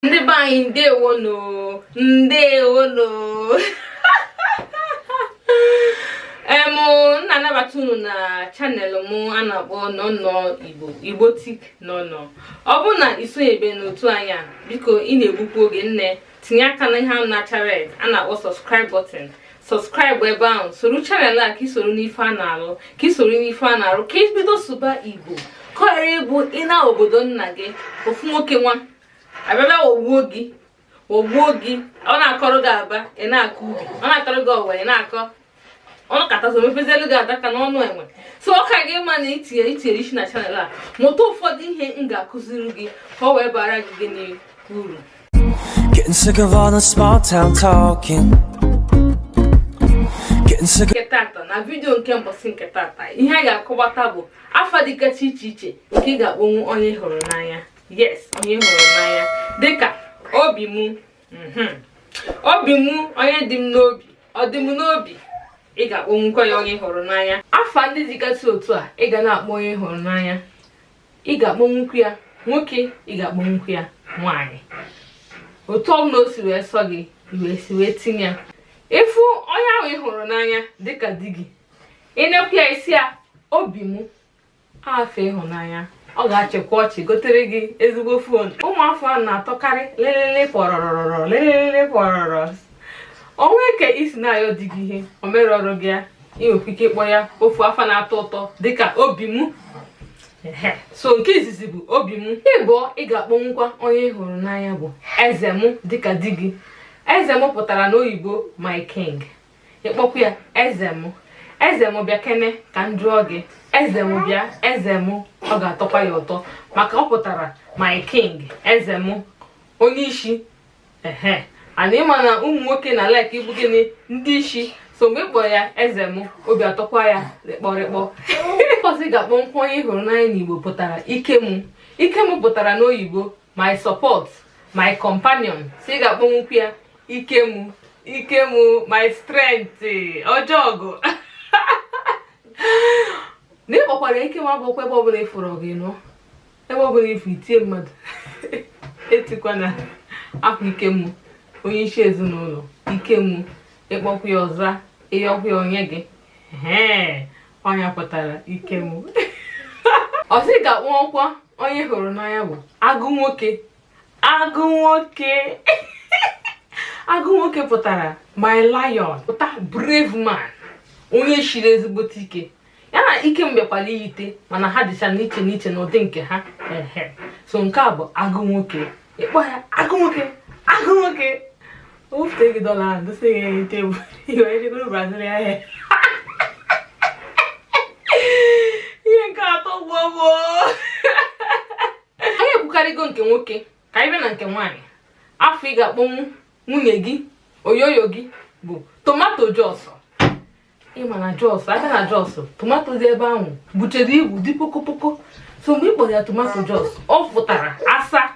ndị be anyị ndewonu ndewonu em na-anabata unu na channel m a na-akpọ nọnọ igbo igbo tik nọnọ ọ bụrụ na i sonyebe n'otu anyị a biko ị na-egbukwu oge nne tinye aka na ihe ahụ na-acha red a na-akpọ subscribe button subscribe ebe ahụ soro channel a ka i soro n'ife a na-alụ ka i soro n'ife a na-arụ ka i bido sụba igbo ka ọ ghara ịbụ ị naa obodo nna gị ofu nwoke nwa abịaba ogbuo gị ogbuo gị ọ na-akọrọ gị aba ị na-akọ ubi ọ na-akọrọ gị ọwa ị na-akọ ọnụ katazo mefezielu gị adaka n'ọnụ enwe so ọ ka gị ma na i tinye i tinye isi na channel a mụta ụfọdụ ihe m ga-akụziri gị ka ọ wee bara gị gị n'uru Getting sick of all the small town talking. Getting sick of nke tata na video nke mbọsị nke tata ihe a ga-akọwata bụ afa dịgasị iche iche nke ị ga-akpọnwu onye ị hụrụ n'anya yes onye ị hụrụ n'anya dịka obi m mhm. obi m onye dị m n'obi ọ dị m n'obi ị ga-akpọnwukwa ya onye ị hụrụ n'anya afa ndị dịgasị otu a ị ga na-akpọ onye ị hụrụ n'anya ị ga-akpọnwukwu ya nwoke ị ga-akpọnwukwu ya nwaanyị otu ọbụla o si wee sọ gị i wee si wee tinye ya ị fụ onye ahụ ị hụrụ n'anya dịka di gị i nekwu ya ị sị ya obi m afa ịhụnanya ọ ga-achịkwa ọchị gotere gị ezigbo phone ụmụ afa a na-atọkarị lelele pọrọrọrọ lelele pọrọrọ o nwe ka i si na-ayọ di gị ihe o mere ọrụ gị ya i nwekwa ike ịkpọ ya ofu afa na-atọ ụtọ dịka obi m so nke izizi bụ obi m ịbụọ ị ga-akpọnwukwa onye ị hụrụ n'anya bụ eze m dịka di gị eze m pụtara n'oyibo my king ị kpọkwa ya eze m eze m bịa kene ka m jụọ gị eze m bịa eze m ọ ga-atọkwa ya ụtọ maka ọ pụtara my king eze m onye isi ehe and ị ma na ụmụ nwoke na-alike ịbụ gịnị ndị isi so mgbe ị kpọ ya eze m obi atọkwa ya rịkpọrịkpọ ọzọ ị ga-akpọnwukwu onye ị hụrụ n'anya n'igbo pụtara ike m ike m pụtara n'oyibo my support my companion so ị ga-akpọnwukwu ya ike m ike m my strength odogwu na ị kpọkwara ike m abụkwa ebe ọbụla ị fụrụ gị nọ ebe ọbụla ị fụ i tie mmadụ etikwa na akwa ike m onye isi ezinụlọ ike m ị kpọkwa ya ọzọ ị yọkwa ya o nye gị ọ ihe ọ pụtara ike m ọzọ ị ga-akpọkwa onye ị hụrụ n'anya bụ agụ nwoke agụ nwoke agụ nwoke pụtara my lion pụta brave man onye shiri ezigbote ike ya na ike m bịakwara iyite mana ha dịcha n'iche n'iche n'ụdị nke ha so nke a bụ agụ nwoke ị kpọọ ya agụ nwoke agụ nwoke O bute gị dọla ahụ dosa ya enu tebụl ị wee jee goro Brazilian hair ihe nke atọ gbuo gbuo anyị ekwukarịgo nke nwoke ka anyị bịa na nke nwaanyị afa ị ga-akpọnwu nwunye gị oyoyo gị bụ tomato jos ị ma na jos a bịa na jos tomato dị ebe ahụ buchere ibu dị pokopoko so mgbe ị kpọrọ ya tomato jos ọ fụtara asa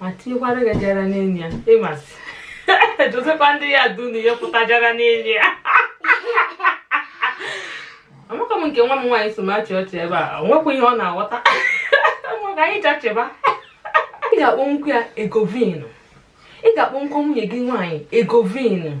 ma tinyekwara gị jara n'elu ya ịmasị dotekwa ndị ya dunu ya pụta jara n'elu ya amaka m nke nwa m nwaanyị so m achị ọchị ebe a o nwekwa ihe ọ na-aghọta ngwa ka anyị jachịba ị ga-akpọnwukwu ya egovin ị ga-akpọnwukwa nwunye gị nwaanyị egovin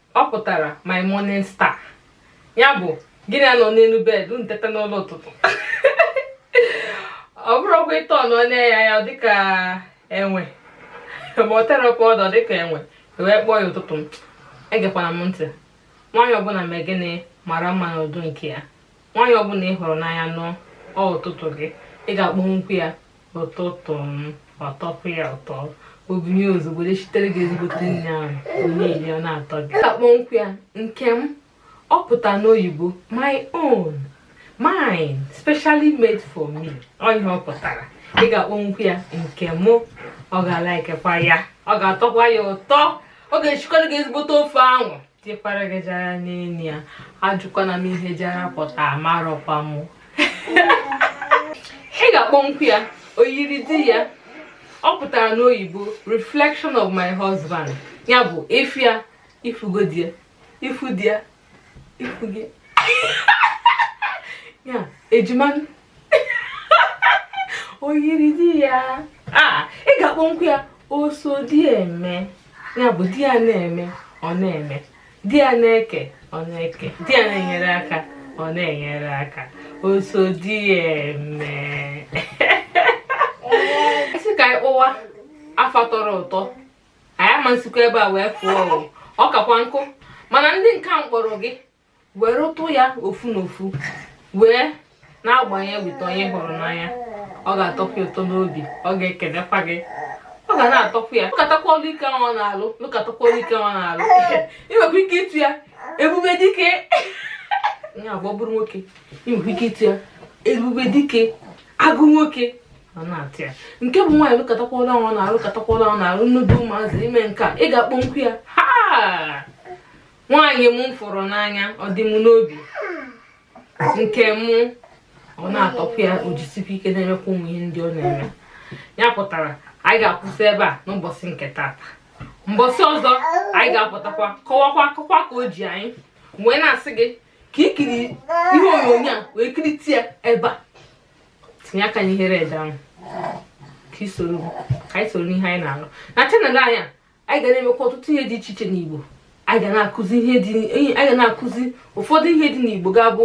ọ pụtara my morning star ya bụ gị na ya nọ n'elu bed unu teta n'ụla ụtụtụ ọ bụrụkwa ịtọ nọ na-eya ya dịka enwe ma o tere powder dịka enwe wee kpọọ ya ụtụtụ m egekwana m ntị nwaanyị ọbụla mee gịnị mara mma n'ụdị nke ya nwaanyị ọbụla ị hụrụ n'anya nụọ ọ ụtụtụ gị ị ga-akpọnwukwu ya ụtụtụ m ọ tọpụ ya ụtọ o binie ozugbo jee sitere gị ezigbote nni ahụ na i rie ọ na-atọ gị ị ga-akpọnwukwu ya nke m ọ pụta n'oyibo my own mine specially made for me ọ ihe ọ pụtara ị ga-akpọnwukwu ya nke mụ ọ ga-alaikekwa ya ọ ga-atọkwa ya ụtọ ọ ga-esikọrọ gị ezigbote ofe ahụ tikwara gị jara n'elu ya ajụkwana m ihe jara pụta amarọkwa m ị ga-akpọnwukwu ya oyiri di ya ọ pụtara n'oyibo reflection of my husband ya bụ ị fụ ya ị fụgo di ya ị fụ di ya ị fụgo ya ejima oyiri di ya ị ga-akpọnwukwu ya oso di eme ya bụ di ya na-eme ọ na-eme di ya na-eke ọ na-eke di ya na-enyere aka ọ na-enyere aka oso di eme ị sị ka anyị kpọwa afa tọrọ ụtọ anyị ama esikwa ebe a wee fụọ ọ kakwa nnukwu mana ndị nke a m kpọọrọ gị were ụtụ ya ofu na ofu wee na-agbanye wite onye hụrụ n'anya ọ ga-atọkwa ụtọ n'obi ọ ga-ekelekwa gị ọ ga na-atọkwa ya lụkatakwa ọlụ ike ahụ ọ na-alụ lụkatakwa ọlụ ike ahụ ọ na-alụ ị nwekwa ike ịtụ ya ebube dike ya bụ ọ bụrụ nwoke ị nwekwa ike ịtụ ya ebube dike agụ nwoke ọ na-atọ ya nke bụ nwaanyị lụkatakwa ọlụ ahụ ọ na-alụ lụkatakwa ọlụ ahụ ọ na-alụ n'idu ụmụazị ime nke a ị ga-akpọkwu ya ha nwaanyị m fụrụ n'anya ọ dị m n'obi nke mụ ọ na-atọkwa ya o jisikwa ike na-emekwa ụmụ ihe ndị ọ na-eme ya pụtara anyị ga-akwụsị ebe a n'ụbọchị nke tata mbọsị ọzọ anyị ga-apụtakwa kọwakwa akụkọ ka o ji anyị wee na-asị gị ka i kiri ihe onyonyo a wee kirite ya ebe a tinye aka n'ihe red ahụ ka i sorokwa anyị soro n'ihe anyị na-alụ na channel anyị a anyị ga na-emekwa ọtụtụ ihe dị iche iche n'Igbo anyị ga na-akụzi ihe dị anyị ga na-akụzi ụfọdụ ihe dị n'Igbo ga-abụ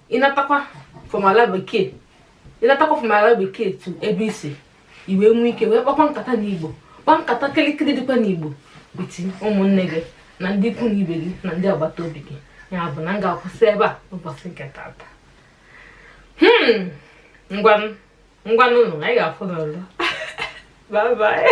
ị natakwa from ala bekee ị natakwa from ala bekee to ebe i si i wee nwee ike wee kpakwa nkata n'Igbo kpaa nkata kịrịkịrị dịkwa n'Igbo with ụmụnne gị na ndị ikwu na ibe gị na ndị agbata obi gị ya bụ na m ga-akwụsị ebe a ụbọchị nke tata hmm ngwanụ ngwanụ anyị ga-afụ n'ọzọ bye bye